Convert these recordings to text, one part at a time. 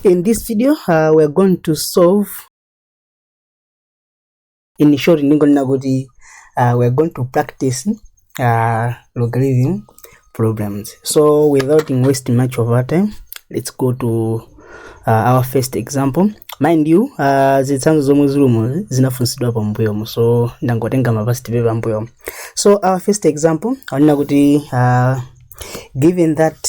In this video, uh, we're going to solve in short ndingonena kuti uh, we're going to practice uh, logarithm problems so without wasting much of our time let's go to uh, our first example mind you uh, zitsanzo zomwe zilimo zinafunsidwa pambuyomo so ndangotenga mapasi tipe pambuyomo so our first example aonena kuti uh, given that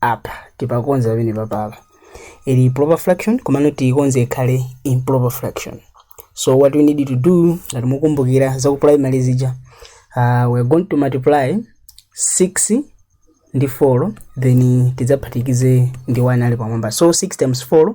apa tipakonze pamene papapa ili proper fraction komano tiikonze ikhale improper fraction so what we need to do ngati mukumbukira za ku primary zija uh, we're going to multiply 6 ndi 4 then tidzaphatikize ndi 1 ali pamwamba so 6 times 4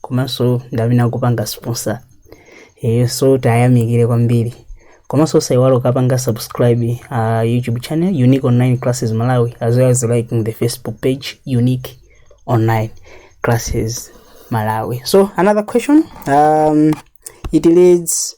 komanso ndi amene akupanga sponsor eh, so tayamikire kwambiri komanso usaiwala ukapanga subscribe uh, youtube channel unique online classes malawi as well as liking the facebook page unique online classes malawi so another question um, it leads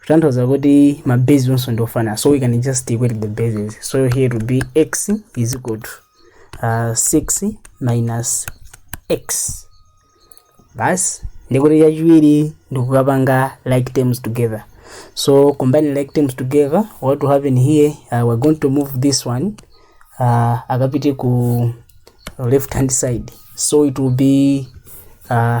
kutanthauza kuti ma base onse ndi ofanana so we can just equate the bases so here to be x is equal to uh, 6 minus x basi ndikuti chachiwiri ndikukapanga like terms together so combining like terms together what will happen here uh, we're going to move this one uh, akapite ku left hand side so it will be uh,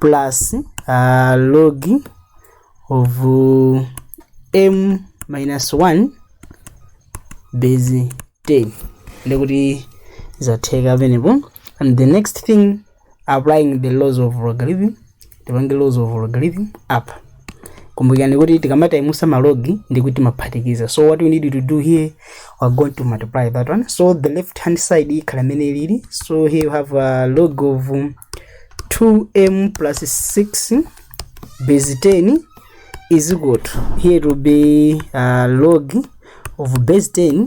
plus uh, log of uh, m minus 1 base 10 ndikuti zatheka pamenepo and the next thing applying the laws of logarithm tipange laws of logarithm apa kumbukirani kuti tikamataimusa malogi ndi kuti maphatikiza so what we need to do here we're going to multiply that one so the left hand side ikhala imene ilili so here you have a log of 2m plus 6 base 10 is equal to here it will be uh, log of base 10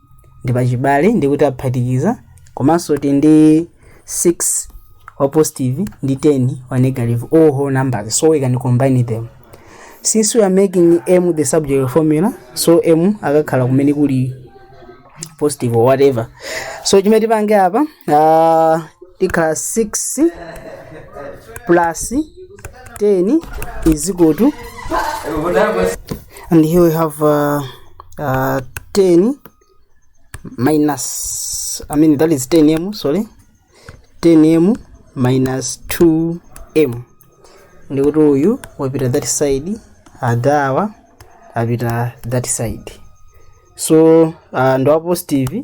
ndi pachibale ndiye kuti aphatikiza komanso ti ndi 6 wa positive ndi 10 wa negative all whole numbers so we can combine them since we are making m the subject of formula so m akakhala kumene kuli positive or whatever so chimene tipange apa uh, tikhala 6 plus 10 is equal to and here we have uh, uh, 10 minus i mean that is 10m sorry 10m minus 2m ndikuti uyu wapita that side adawa apita that side so uh, ndo a positive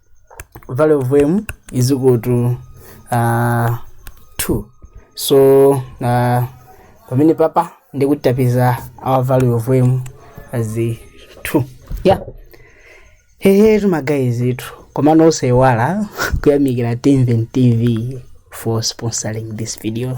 value of m is equal to uh, 2 so uh, pamene papa ndiye kuti tapeza our value of m as 2 yeah hehetu magayizitu komano osaiwala kuyamikira timven tv for sponsoring this video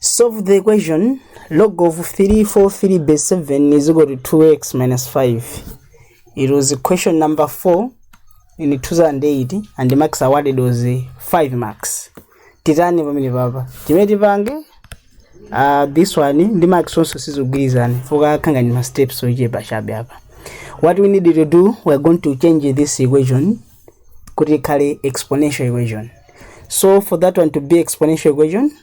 Solve the equation log of 343 base 7 is equal to 2x minus 5. It was question number 4 in 2008 and the marks awarded was eh, 5 marks. Titani pamene papa. Chimene tipange uh, this one ndi marks onse sizigwirizana fuka akhanga ndi ma steps ochepa chabe apa. What we need to do we are going to change this equation kuti ikhale exponential equation. So for that one to be exponential equation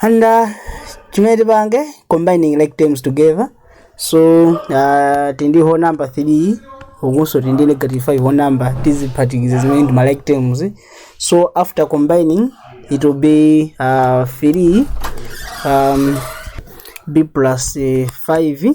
and uh, chimene tipange combining like terms together so uh, tindi whole number 3 ukunso tindi negative 5 whole number tiziphatikize zimene ndi ma like terms so after combining it will be uh, 3 um, b plus uh, 5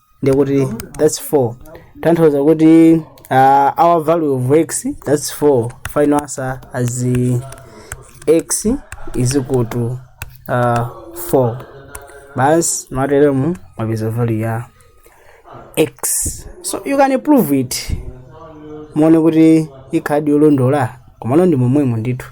ndiye kuti that's 4 tanthauza kuti uh, our value of x that's 4 final answer as uh, x is equal to uh, 4 basi mwateremu mwapeza value ya x so you can prove it muone kuti ikhaladi yolondola komano ndi momwemo ndithu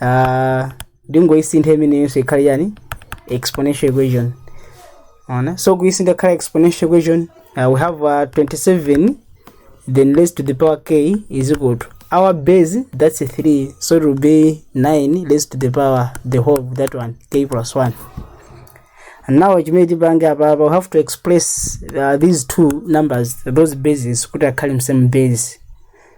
uh, ndingoyisintha imeneyonso ikhale yani exponential equation ona so kuyisintha khala exponential equation uh, we have uh, 27 then raised to the power k is equal to our base that's 3 so it will be 9 raised to the power the whole of that one k plus 1 and now chimene tipange apa apa we have to express uh, these two numbers those bases kuti akhale msame base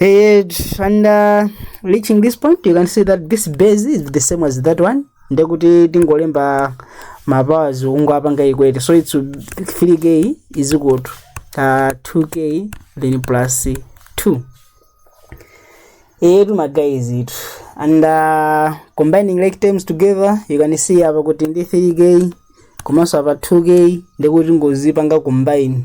And, and uh, reaching this point you can see that this base is the same as that one ndekuti tingolemba mapowers ungo apanga equate so it's 3k is equal to uh, 2k then plus 2 etu maguys itu and uh, combining like terms together you can see apa kuti ndi 3k komanso apa 2k ndekuti ngozipanga combine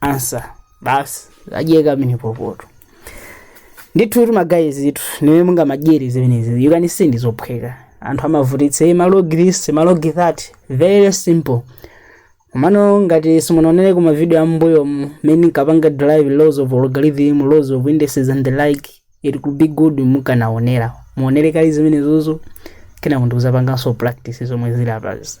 ansa basi adyeka pamenepo ndithutu magayizitu ndi mmene mungamadyere zimenezi you can see ndi zophweka anthu amavutitsa "Eh, malogi this malogi that very simple komano ngati simunaonere kuma video ambuyo mmene tikapanga derive laws of logarithm laws of indices and the like it could be good mukanaonera muonere kaye zimenezozo kenako n'kudzapanganso practice zomwe zili apazi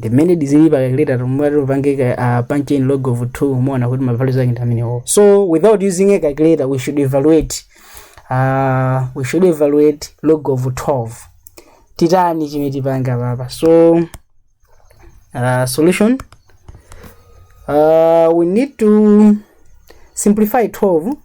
the minute zili pa calculator tumati upange ka- uh, punch in log of 2 umaona kuti ma values ake ndi amenewo so without using a calculator we should evaluate uh, we should evaluate log of 12 titani chimene tipanga papa so uh, solution uh, we need to simplify 12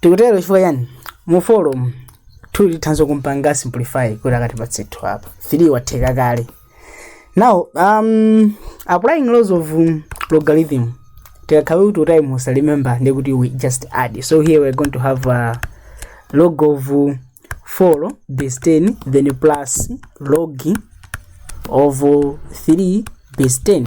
tikutero chifukwa chani mu 4 muli tithanso kumpanga simplify kuti akatipatse 2 apa 3 watheka kale now um, applying laws of um, logarithm tikakhale kuti times muza remember ndiye kuti we just add so here we're going to have uh, log of uh, 4 base 10 then plus log of uh, 3 base 10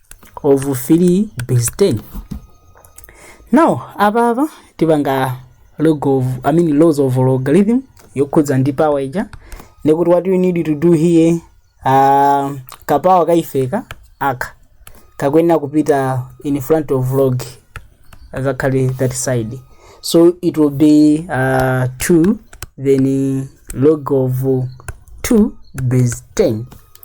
of 3 base 10 now apa apa tipanga log of i mean laws of logarithm yokhudza ndi power ija ndikuti what you need to do here uh, kapawa kaifeka aka kakuyenera kupita in front of log azakhale that side so it will be uh, 2 then uh, log of 2 base 10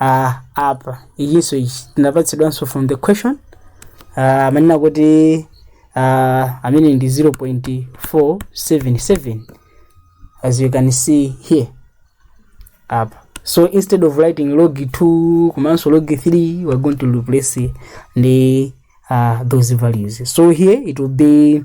uh, apa ichinso ichi tinapatsidwanso from the question uh, amanena kuti uh, amene ndi 0.477 as you can see here apa so instead of writing log 2 komanso log 3 we're going to replace ndi uh, those values so here it will be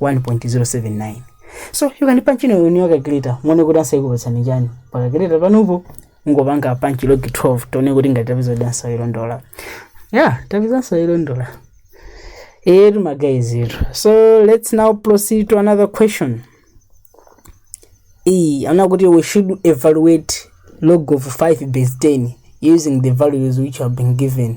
1.079 so you can punch in your calculator muone kuti ansa ikupatsani chani pa calculator panupo mungopanga punch log 12 tione kuti ngati tapezadi ansa yolondola yeah tapeza ansa yolondola etu magayizitu so let's now proceed to another question iyi akuti we should evaluate log of 5 base 10 using the values which have been given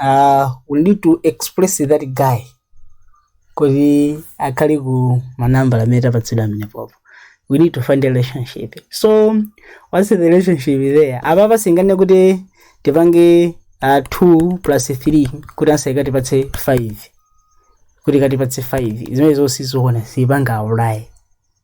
Uh, we need to express that guy kuti akhale ku manambala amene tapatsidwa amenepopo we need to find a relationship so what's the relationship there apapa sitinganene kuti tipange uh, 2 plus 3 kuti ansa ikatipatse 5 kuti ikatipatse 5 zimene zosizoona sitipanga apply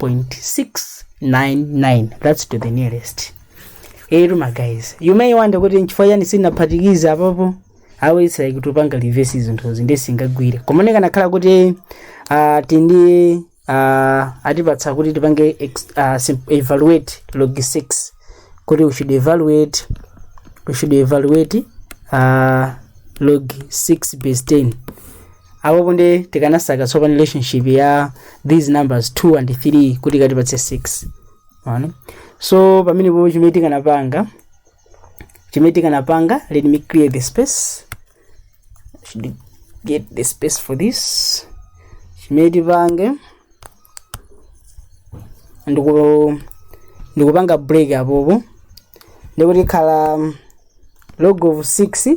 0.699 that's to the nearest eti ma guys you may wonder kuti nchifukwa chani sinaphatikiza apopo awo it's like tikupanga reverse zinthuzi nde singagwire komano ikanakhala kuti uh, tindi uh, atipatsa kuti tipange ex- ah, sim- evaluate log 6 kuti we should evaluate we should evaluate uh, log 6 base 10 apopo nde tikanasaka tsopano relationship ya these numbers 2 and 3 kuti ikatipatse 6 Mwaona? so pamenepo chimene tikanapanga chimene tikanapanga let me clear the space I should get the space for this chimene tipange ndiku ndikupanga break apopo ndekuti tikhala log of 6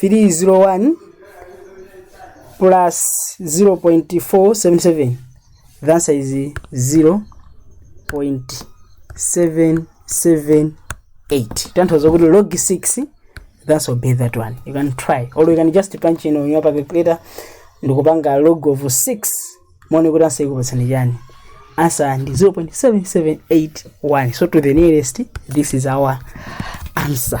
301 plus 0.477 the answer is 0.778 tanthauza kuti log 6 the answer will be that one you can try or you can just punch in on your calculator ndikupanga log of 6 muone kuti answer ikupatsani chani answer ndi 0.7781 so to the nearest this is our answer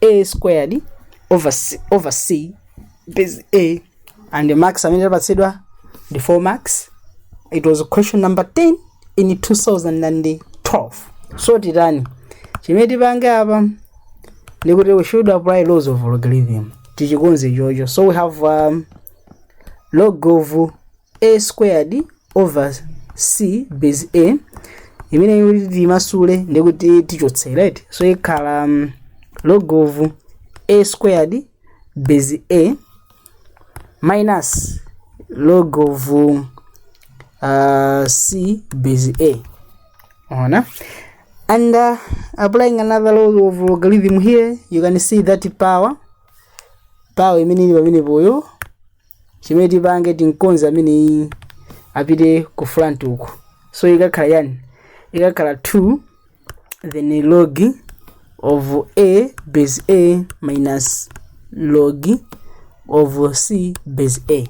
a squared over c, over c base a and max amene tapatsidwa ndi 4 max it was question number 10 in 2012 so titani chimene tipange apa ndikuti we should apply laws of logarithm tichikonze chocho so we have um, log of a squared over c base a imene kuti timasule ndi kuti tichotse right so ikhala um, log of a squared base a minus log of uh, c base a ona and uh, applying another law of logarithm here you can see that power power imene ili pamenepoyo chimene tipange timukonze ameneyu apite ku front uku so ikakhala chani ikakhala 2 then log of a base a minus log of c base a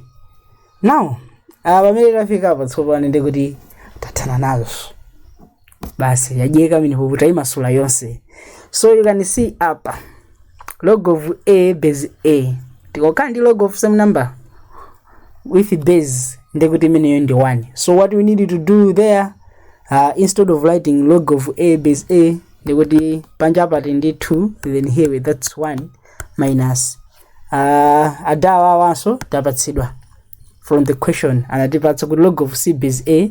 now apa pamene tafika apa tsopano ndekuti tathana nazo basi yacheka mmenepo tuimasula yonse so you can see apa log of a base a tikakhala ndi log of same number with base ndekuti imeneyo ndi 1 so what we need to do there uh, instead of writing log of a base a ndekuti panja pali 2 then here we- that's 1 minus uh, adawa awanso tapatsidwa from the question anatipatsa kuti log of c base a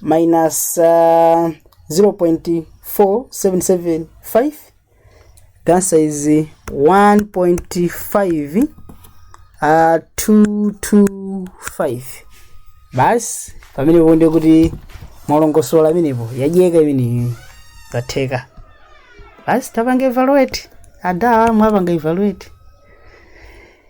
minus uh, 0.4775 the answer is 1.5 uh, 225 basi pamenepo ndekuti mwalongosola imeneyo yacheka imeneyo zatheka basi tapanga evaluate adawa mwapanga evaluate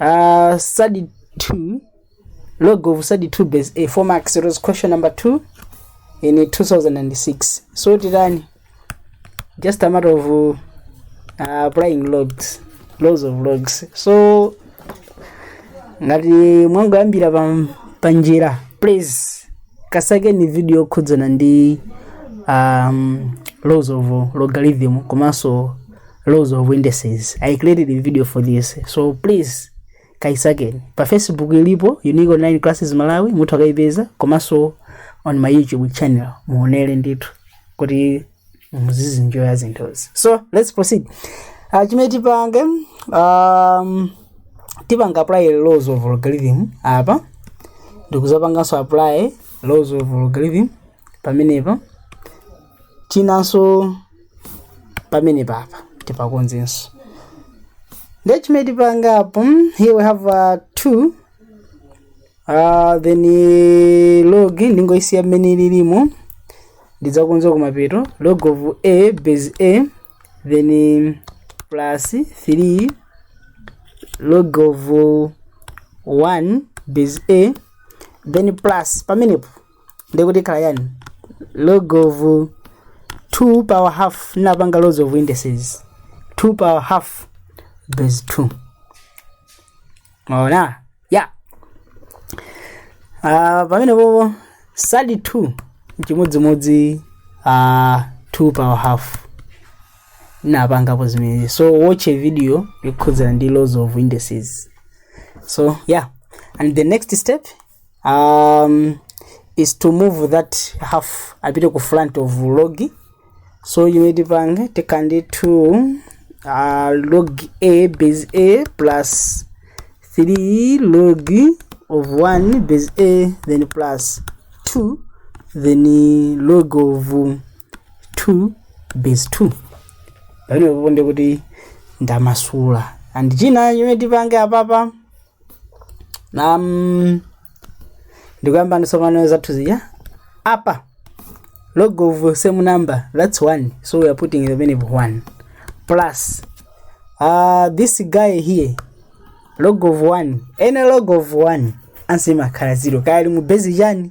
Uh, study 2, log of study 2 base A, 4 marks. It was question number 2 in 2006. So it ran just a matter of uh, applying logs, laws of logs. So ngati mwangoyambira pa, pa njira please kasakeni video yokhudzana ndi um, laws of logarithm komanso laws of indices i created a video for this so please kaisakeni pa facebook ilipo unique online classes malawi mutha kukaipeza komanso on my youtube channel muonere ndithu kuti muzizinjoya zinthuzi so let's proceed uh, chimene tipange um, tipanga apply laws of logarithm apa ndikuzapanganso apply laws of logarithm pamenepa chinanso pamenepa apa tipakonzenso ndiye chimene tipanga apo mm, here we have uh, two uh, then eh, log ndingoisiya mmene ilimo ndidzakonza kumapeto log of a base a then eh, plus 3 log of 1 base a then plus pamenepo ndikuti ikhala chani log of 2 power half napanga laws of indices 2 power half base 2 maona ya Ah, pamenepopo sali 2 chimodzimodzi uh, 2 power half napangapo zimenezi so watch a video yokhudzana ndi laws of indices so yeah and the next step um, is to move that half apite ku front of log so chimene tipange tikhala ndi 2 uh, log a base a plus 3 log of 1 base a then plus 2 then log of 2 base 2 pamenepo nde kuti ndamasula and china chimene tipange apapa nam ndikuyambani tsopano zathu zija apa log of same number that's one so we are putting the many one plus uh, this guy here log of one any log of one ansimakhala zero kaya ali mu base chani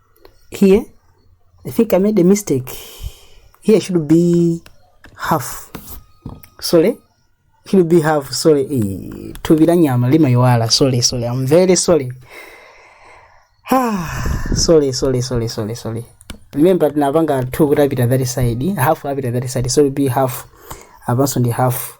here I think I made a mistake here should be half sorry should be half sorry eh, thupi la nyama limayiwala sorry sorry I'm very sorry Ah, sorry sorry sorry sorry sorry remember tinapanga 2 kuti apita that side half apita that side so it'll be half apanso ndi half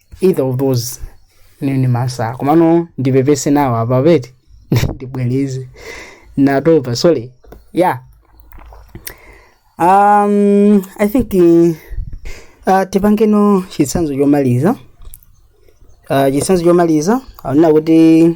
either of those nini masamu komano ndipepese nawo apa peti ndibwereze natopa sorry yeah um i think eh, uh, tipangeno chitsanzo chomaliza uh, chitsanzo chomaliza akunena kuti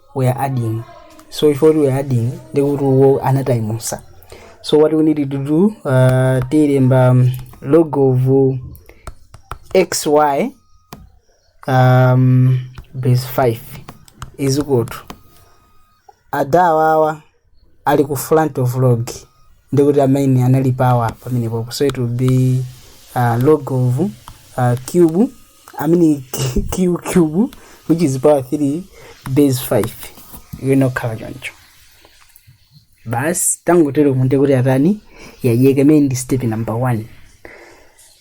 we are adding so if what we are adding ndi kuti wo anataimusa so what we need to do uh, tilemba um, log of uh, xy um, base 5 is equal to adawawa ali ku front of log ndikuti amene anali power pamenepo so it will be uh, log of uh, q i mean q cube which is power 3 base 5 inakhala choncho basi tangotero nde kuti atani yayeka imene ndi step number 1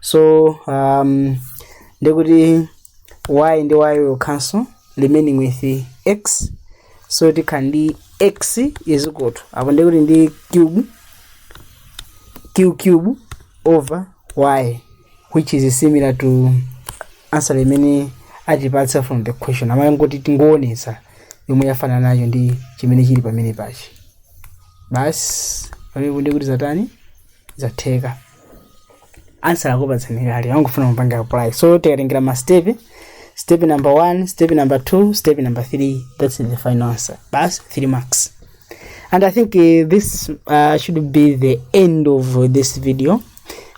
so um, ndikuti y ndi y will cancel remaining with x so tikhala ndi x is equal to apo ndikuti ndi q q cube over y which is similar to answer imene atipatsa from the question amangoti tingoonetsa yomwe yafanana nayo ndi chimene chili pamene pachi basi pamenepo ndikuti zatani zatheka ansa akupatsani kale angofuna mupanga apply so tikatengera ma step step number 1 step number 2 step number 3 that's the final answer bas 3 marks and i think uh, this uh, should be the end of uh, this video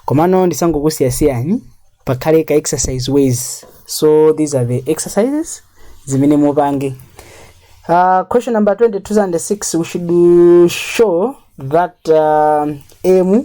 komano ndisangokusiyasiyani pakhale ka exercise ways so these are the exercises zimene mupange Uh, question number 20, 2006, we should uh, show that uh, M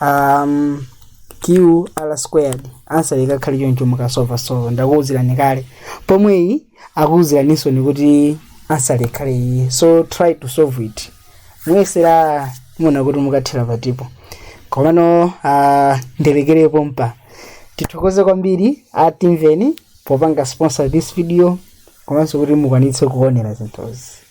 um, qr squared answer ikakhale choncho mukasova sova ndakuwuzirani kale pomwe iyi akuwuziraninso ni kuti answer ikhale iyi so try to solve it muyesere muone kuti mukathera pati po komano uh, ndilekere pompa tithokoze kwambiri atimveni popanga sponsor this video komanso kuti mukwanitse kuonera zinthuzi